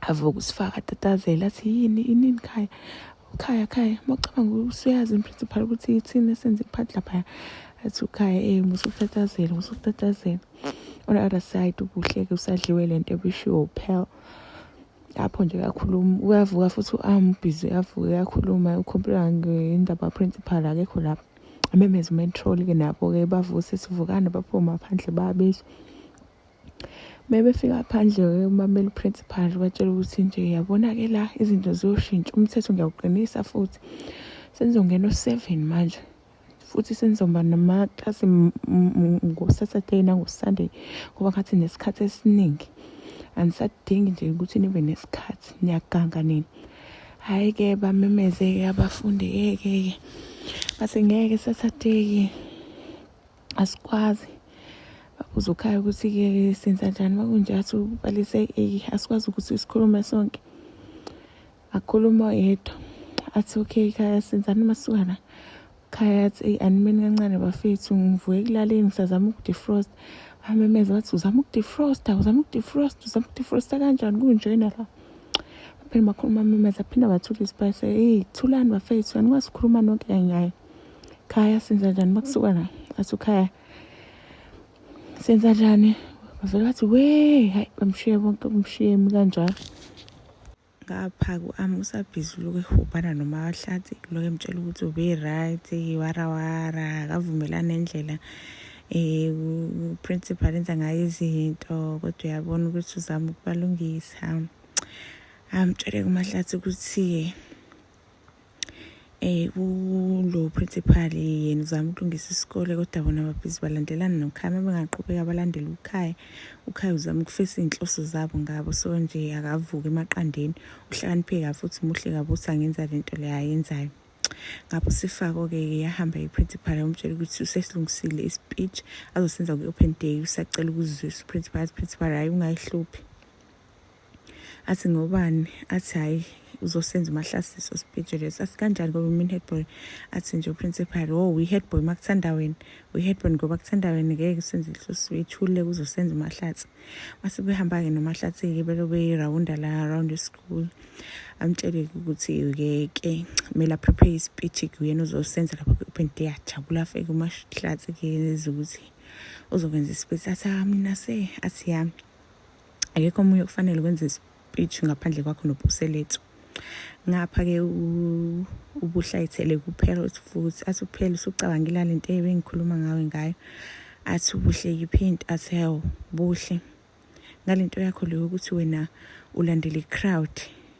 avuka usifaka atatazela athi yini inini khaya khaya khaya mawucabanga usuyazi imprincipal ukuthi yithini esenze iphathi laphaya athi ukhaya ey eh, musukutatazela musukutatazela on the other side ubuhleke usadliwe le nto ebishiwo uphel lapho nje uyakhuluma uyavuka futhi uambhizi ah, uyavuka uyakhuluma ukhompyutha ngendaba principal akekho lapho amemeze umentrol-ke nabo-ke bavuse sivukane baphume ngaphandle babizwa Mebefika phandle-ke umameli uprincipal batshela ukuthi nje yabona-ke la izinto ziyoshintsha umthetho ngiyawuqinisa futhi senizongena o-seven manje futhi senizoba namaklasi ngosaturday nangosunday ngoba ngathi nesikhathi esiningi anisadingi nje ukuthi nibe nesikhathi niyaganga nini hhayi-ke bamemeze-ke abafundi-ke-ke bathi ngeke saturday-ke asikwazi babuza ukhaya ukuthi-ke senza njani uma kunje athi ubalise eyi asikwazi ukuthi sikhulume sonke akhuluma oyedwa athi okay khaya senzani masukana khaya athi eyi animeni kancane bafethu ngivuke ekulaleni ngisazama ukudefrost bamemeza bathi uzama ukudefrosta uzama ukudefrosta uzama ukudefrosta kanjani kunjena la baphinde bakhuluma amemeza phinde bathula isipayise eyi thulani bafethu anikwazi ukukhuluma nonke kanyaya khaya senza njani makusuka la athi ukhaya senza njani bavele bathi we hayi bamshiye bonke bamshiye emi kanjalo ngapha ku-ami usabhizi uloku ehubhana noma wahlathi uloku emtshela ukuthi ube-right warawara akavumelani endlela um uprincipal enza ngayo izinto kodwa uyabona ukuthi uzama ukubalungisa amtshele kumahlathi ukuthi eh kulo principal yena uzama ukulungisa isikole kodwa bona ababhizi balandelana nokhaya uma bengaqhubeka balandele ukhaya ukhaya uzama ukufesa iy'nhloso zabo ngabo so nje akavuke emaqandeni uhlakanipheke kabi futhi muhle kabi ukuthi angenza le nto leyo ayenzayo ngapho sifako-ke yahamba i-principal yamtshela ukuthi usesilungisile i-speech azosenza kwi-open day usacela ukuzizwisa u-principal athi principal hhayi ungayihluphi athi ngobani athi hhayi uzosenza umahlasiso speech lesi asikanjani ngoba mina headboy athi nje uprincipal o oh, uyi-headboy uma kuthanda wena uyi-headboy ngoba kuthanda wena ngeke senze inhloso ethululeke uzosenza umahlathi mase behamba-ke nomahlathi-ke belo beyirawunda la around school amtshele-ke ukuthi-ke ke kumele aprepare ispeech-ke uyena uzosenza lapho kwi-open day ajabula afeke umahlathi-ke eza ukuthi uzokwenza ispeech athi ah, mina se athi yami akekho omunye okufanele kwenze speech ngaphandle kwakho nopuselethu ngapha-ke ubuhlayithele kuphela futhi athi uphela usucabangela le nto ebengikhuluma ngawe ngayo athi ubuhle yiphi into athi hewo buhle ngale nto yakho leyo ukuthi wena ulandela i-crowd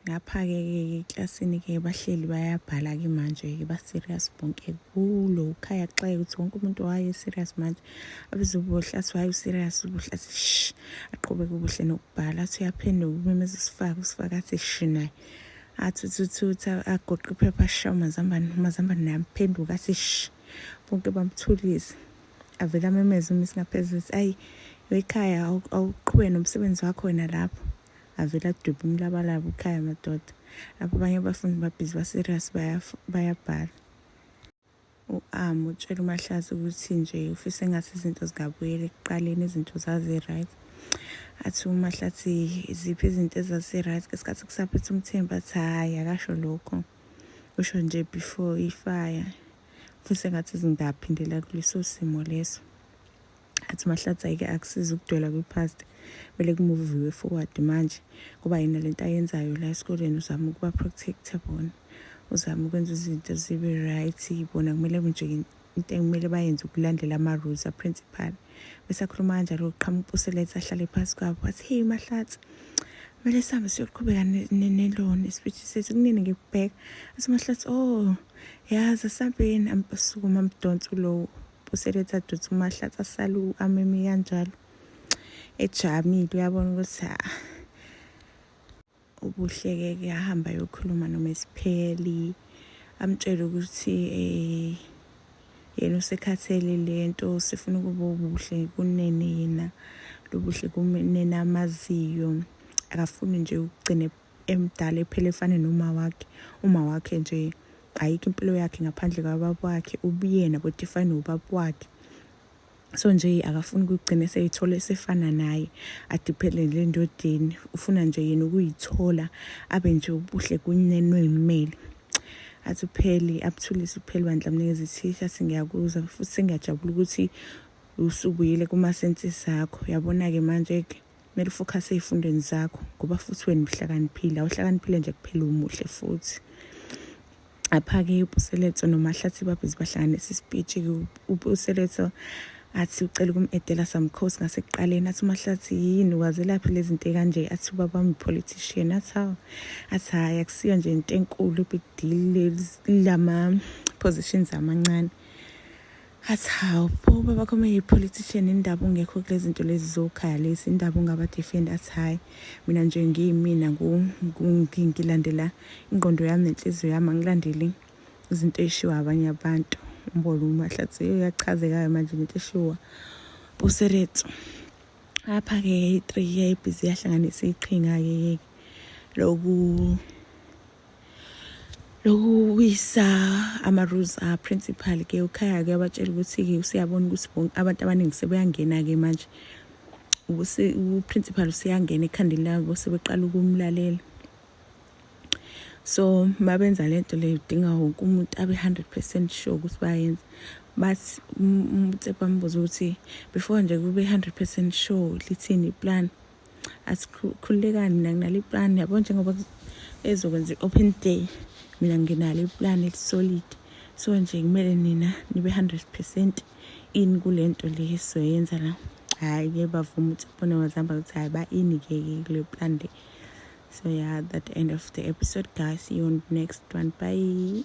Ngapha-ke eklasini-ke bahleli bayabhala-ke manje-ke ba-serious bonke kulo ukhaya kuxaye ukuthi wonke umuntu waye serious manje abeze ubuhlasi waye userious ubuhlasi sh aqhubeke ubuhle nokubhala athi uyaphenduka umemeza usifaka usifaka athi shi naye athi uthuthutha agoqe iphepha ashaye umazambane umazambane naye amphenduka athi shi bonke bamthulise avele amemeze uma isingaphezulu ayi wekhaya awuqhubeke nomsebenzi wakho wena lapho avele adwebe umlabalaba ukhaya madoda lapho abanye abafundi babhizi baserious bayabhala u-am utshela umahlazi ukuthi nje ufisa engathi izinto zingabuyela ekuqaleni izinto zazi-right athi umahlathi iziphi izinto ezasi-right ngesikhathi kusaphetha umthemba athi hhayi akasho lokho usho nje before ifaya ufisa engathi zingaphindela kuleso simo leso athi mahlatsi ayike akusiza ukudwela kwi-past kumele kumuviwe forward manje kuba yena lento ayenzayo la esikoleni uzama ukuba protecta bona uzama ukwenza izinto zibe right bona kumele kunje into ekumele bayenze ukulandela ama-rules aprincipal bese akhuluma kanjalo uqhamuka upuselete ahlale phasi kwabo wathi heyi mahlatsi kumele sihambe siyoqhubeka neloni isipitshi sethu kunini ngikubheka athi mahlatsi oh yazi asambeni sukuma mdonsi ulowo useletha duthu mahlatsa salu ameme kanjalo ejamile uyabona ukuthi ha ah, ubuhleke ke ahamba yokhuluma noma isipheli amtshele ukuthi eh yena usekhathele lento sifuna ukuba ubuhle kunene yena lobuhle kunene amaziyo akafuni nje ukugcina emdala ephele efane noma wakhe uma wakhe nje ayikho impilo yakhe ngaphandle kwababa wakhe ubuyena kodwa ifane nobaba wakhe so nje akafuni ukugcina eseyithola esefana naye adiphelele endodeni ufuna nje yena ukuyithola abe nje ubuhle kunenwe imeli athi upheli abuthulise upheli bandla mnikeza ithisha singiyakuzwa futhi sengiyajabula ukuthi usubuyile kuma senses akho yabona-ke manje-ke kumele ufokhase ey'fundweni zakho ngoba futhi wena uhlakaniphile awuhlakaniphile nje kuphela umuhle futhi apha-ke upuseletso nomahlathi babhizi bahlanganisa isipitshi-ke upuseletso athi ucela ukum-edela samkhosi ngasekuqaleni athi umahlathi yini wazelaphi le zinto ekanje athi ubaba wami politician athi hawu athi hhayi akusiyo nje into enkulu big deal lama-positions amancane athi hawu pho baba kho meyipolitician indaba ungekho kulezinto lezi zokhalisa indaba ungaba defend athi hayi mina nje ngiyimina ngilandela ingqondo yami nenhliziyo yami angilandeli izinto eyishiwa abanye abantu umbolo umahlathi uyachazekayo manje ngento eshiwa useretso apha-ke yayi-three yayibhizi yahlanganisa iqhinga-ke loku lokuwisa ama-rules a-principal ke ukhaya-ke abatshela ukuthi-ke useyabona ukuthi abantu abaningi sebeyangena-ke manje uprincipal useyangena ekhandeni labo sebeqala ukumlalela so mabenza le nto leyo udinga wonke umuntu abe 100 percent sure ukuthi bayenza bathi umtsepa mbuza ukuthi before nje kube 100 percent sure lithini iplan asikhululekani mina nginalo iplan yabo njengoba ezokwenza i-open day mina nginalo iplan elisolid so nje kumele nina nibe 100 percent in kule nto le soyenza la hhayi ke bavuma ukuthi bona wazihamba ukuthi hhayi ba-ini-ke-ke kule plan le so yeah that end of the episode guys see you on the next one bye